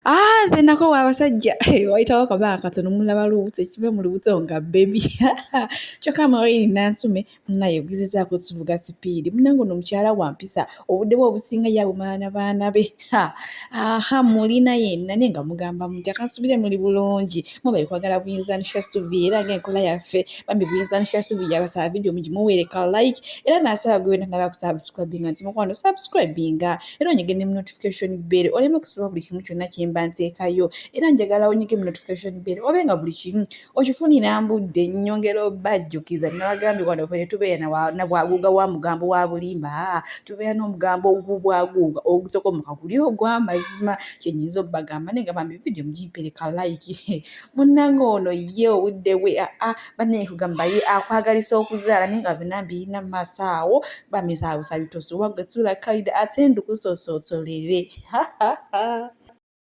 Ah, nze nakowa abasajja wayitawo akabaa katono mulaba lubuto ekiva mu lubuto nga bebi kyokka marini nantume munaye ogezezaako tuvuga sipiidi munange ono omukyala wampisa obudde bwe obusinga yabumala na baana be aha mulina yenna naye nga mugamba mutya kansubire muli bulungi mubali kwagala buyinza nisha suvi era nga enkola yaffe bambi buyinza nisha suvi yabasaba vidiyo mugimuweereka like era nasaba gwe wena naba kusubscribinga nti mukwano subscribinga era onyige ne mu notification bell oleme kusubwa buli kimu kyonna kye mba nteekayo era njagala onyige mu notification bell obe nga buli kimu okifunira mbudde nyongera obajjukiza nabagambye wano fe netubeera nabwaguuga wa mugambo wa bulimba tubeera n'omugambo ogubwaguuga ogutokomoka guli ogw'amazima kyenyinza obagamba naye nga bambi vidiyo mugimpereka layiki munnange ono ye obudde bwe aa banne kugamba ye akwagalisa okuzaala naye nga byonna mbirina mu maaso awo bamizaabusa bitosi wagwe tuula kaida ate ndukusososolere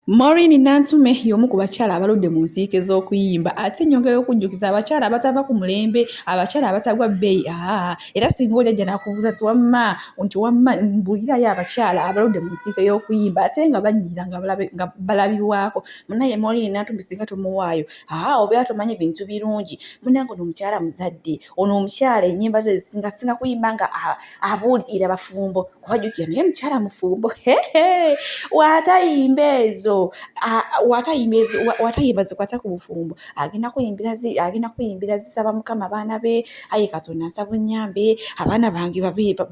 Maureen Nantume y'omu ku bakyala abaludde mu nsiike z'okuyimba ate nyongera okujjukiza abakyala abatava ku mulembe abakyala abatagwa bbeeyi aa era singa ojajja nakubuuza ti wamma nti wamma mbulirayo abakyala abaludde mu nsiike y'okuyimba ate nga banyiira nga balabibwako munaye Maureen Nantume singa tomuwaayo aa obeera tomanyi bintu birungi munange ono omukyala muzadde ono omukyala enyimba ze zisinga singa kuyimba nga abuulira bafumbo kuba jukira naye mukyala mufumbo watayimba ezo watayimba zikwata ku bufumbo agenda kuyimbira agenda kuyimbira zisaba mukama abaana be aye katonda nsaba onyambe abaana bange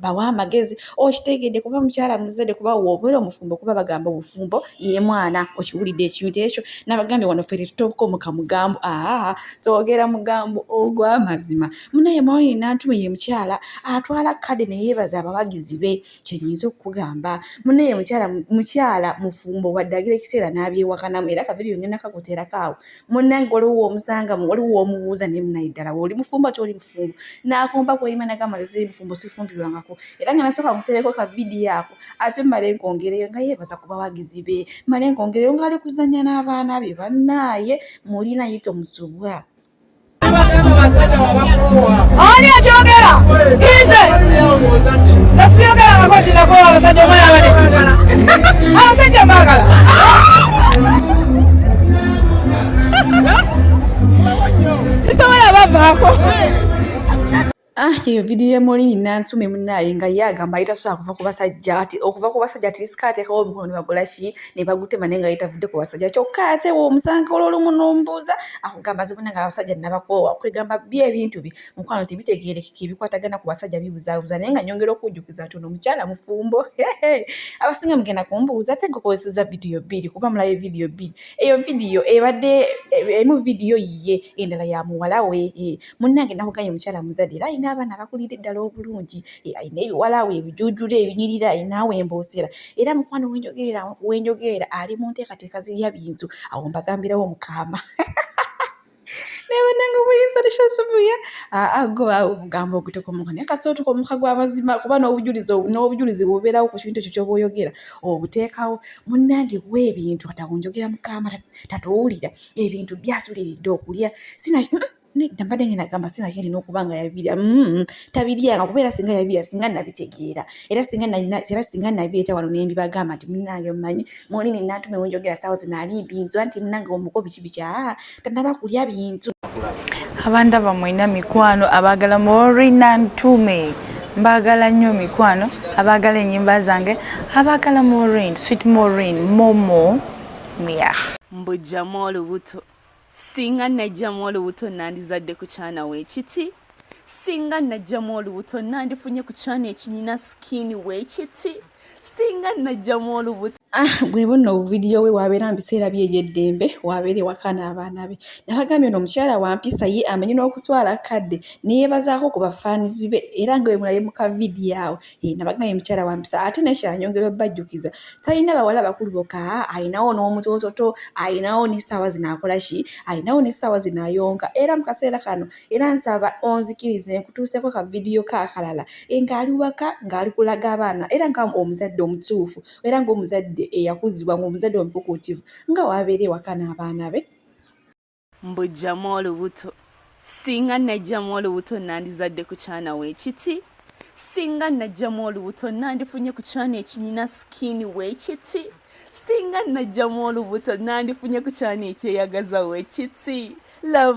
bawa amagezi okitegedde kuba mukyala muzadde kuba wobeera omufumbo kuba bagamba obufumbo ye mwana okiwulidde ekintu ekyo nabagambye wano fere tutokomuka mugambo aa twogera mugambo ogwamazima munaye mawulire nantuma ye mukyala atwala kade neyebaza abawagizi be kyenyinza okukugamba munaye mukyala mukyala mufumbo waddagira ekiseera nabyewakanamu era kabiri yongenda kakuterako awo munange waliwo omusanga waliwo womubuuza naye munaye ddala woli mufumbo ati oli mufumbo nakomba kweyima nagamba nze mufumbo sifumbirwangako era nga nasooka mutereko ka vidiyo ako ate mmale nkwongereyo nga yeebaza ku bawagizi be mmale nkwongereyo ng'ali kuzannya n'abaana be bannaaye muli naye tomusubwa ani akyogera ize sasiyogera kakotinako abasajja omwana baneki abasajja mbagala sisobola bavaako Ah, eyo vidiyo emuli nansume munaye nga ye agamba yita sobola kuva ku basajja ati okuva ku basajja ati lisika ateekawo omukono ne bagula ki ne bagutema naye nga yetavudde ku basajja kyokka ate we omusanga olwolumu nombuuza akugamba zibuna nga abasajja nabakoowa kwegamba byo ebintu bye mukwano tebitegeerekeka ebikwatagana ku basajja bibuzaabuza naye nga nyongera okujjukiza nti ono omukyala mufumbo abasinga mugenda kumbuuza ate nkukozeseza vidiyo bbiri kuba mulayo vidiyo bbiri eyo vidiyo ebadde emu vidiyo yiye endala ya muwala we eh. munnange nakugaye omukyala muzadde era alina abaana abakulidde ddala obulungi eh, alina ebiwalaawo ebijujula ebinyirira alina awo emboosera era mukwano wenjogeera wenjogeera ali mu nteekateeka zirya bintu awo mbagambirawo mukaama nebananga obuyinza tushasubuya agoba ah, ah, omugambo ogutokomuka naye kasita otuka omuka gwamazima kuba nobujulizi n'obujulizi bubeerawo ku kintu ekyo kyoba oyogera obuteekawo munnange kuwa ebintu katakunjogera mukama tatuwulira ebintu byasuliridde okulya sinaki hmm? nedda mbadde ngenda gamba sina kyalina okuba nga yabirya mm, tabiryanga kuba era singa yabirya singa nabitegeera era singa era singa nabireeta wano nembibagamba nti munange mumanyi muli nenantuma ewenjogera saawo zinaali binzwa nti munange omuko biki biki aa tanaba kulya bintu abanda bamwena mikwano abagala mori nantume mbagala nnyo mikwano abagala enyimba zange abagala morin sweet morin momo mia mbujjamu olubuto singa najjamu olubuto nandizadde ku kyana weekiti singa najjamu olubuto nandifunye ku kyana ekinyina sikiini weekiti singa najjamu olubuto ah, bweba nno obuvidiyo we wabeera mu biseera bye ebyeddembe wabeera ewaka n'abaana be nabagambye ono omukyala wampisa ye amanyi n'okutwala kadde neyebazaako ku bafaanizi be era nga wemulabe mu kavidiyo awo Eh, nabagamba ye mukyala wampisa ate nekyanyongera obajjukiza talina bawala bakulu boka alinawo n'omutototo alinawo nesaawa zino akola ki alinawo nesaawa zino ayonka era mu kaseera kano era nsaba onzikirize nkutuuseko ka vidiyo kakalala eh, ng'ali waka ng'ali kulaga abaana era nga omuzadde omutuufu era ngaomuzadde eyakuzibwa ngaomuzadde omukukuutivu nga wabeera ewaka n'abaana be mbujjamu olubuto singa najjamu olubuto nandizadde ku kyana weekiti singa najjamu olubuto nandifunye ku kyana ekinyina sikini weekiti singa najjamu olubuto nandifunye ku kyana ekyeyagaza weekiti love